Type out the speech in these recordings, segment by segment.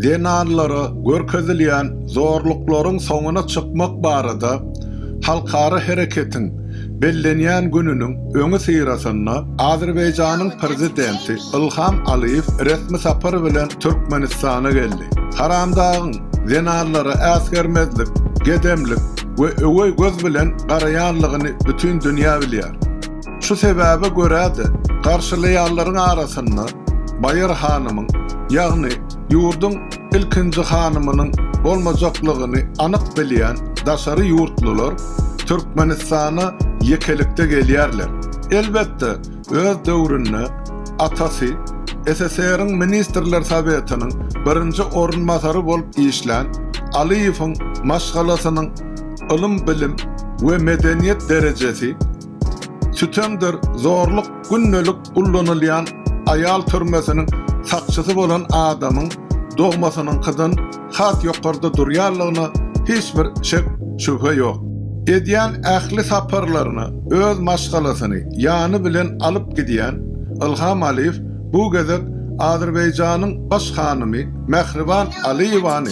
Zenanlara görkezilýän zorluklaryň soňuna çykmak barada halkara hereketiň bellenýän gününiň öňüsyrasynda Azerbaýjanyň Prezidenti Ilham Alyýew resmi sapar bilen Türkmenistana geldi. Haramdagyň zenanlara äsgermezlik, gedemlik we öweý göz bilen garaýanlygyny bütin dünýä bilýär. Şu sebäbe görä-de, garşylaýanlaryň arasynda Baýar hanymyň, ýagny ýurduň ilkinji hanymynyň bolmajaklygyny anyk bilýän daşary ýurtlular Türkmenistana ýekelikde gelýärler. Elbetde, öz döwründe atasy SSR-iň Ministrler Sowetiniň birinji orunbasary bolup işlän Alyýewiň maşgalasynyň ylym-bilim we medeniýet derejesi, Sütemdir zorluk gündelik ullanylýan aýal türmesiniň sakçysy bolan adamyň dogmasynyňkydan has ýokarda durýanlygyna hiç bir şek, şübhe ýok. Edýän ähli saparlaryna öz maşgalasyny ýany bilen alyp gidýän Ylham Alyýew bu gezek Azerbaýjanyň Baş hanymy Mähriban Alyýewany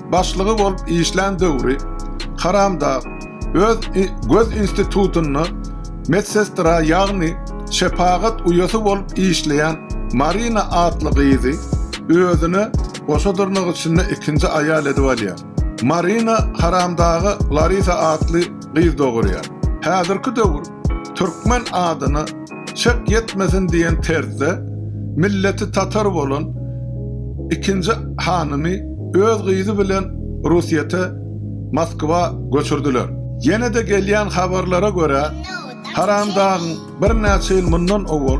başlygy bolup işlän döwri Karamdag öz göz institutynda medsestra ýagny şepagat uýasy bolup işleýän Marina atly gyzy özüne goşa dyrnak içinde ikinji aýal edip alýar. Marina Karamdaga Larisa atly gyz dogurýar. Häzirki döwür Türkmen adyna çek ýetmesin diýen terzde milleti tatar bolan ikinji hanymy öz gyzy bilen Rusyýete, Moskwa göçürdiler. Ýene-de gelýän habarlara görä, Haramdagyň birnäçe ýyl mundan owal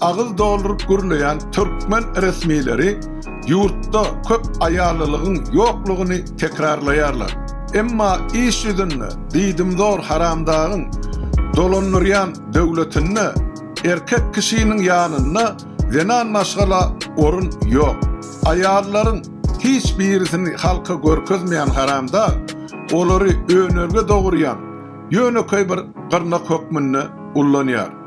Agyz dolduryp gürleýän türkmen resmileri ýurtda köp aýallylygyň ýoklugyny tekrarlaýarlar. Emma iş ýüzünde diýdimzor haramdagyň dolandyrýan döwletinde erkek kişiniň ýanynda zenan maşgala orun ýok. Aýallaryň hiç birisini halka görkezmeýän haramdag olary önelge dogurýan ýönekeý bir gyrnak hökmünde ullanýar.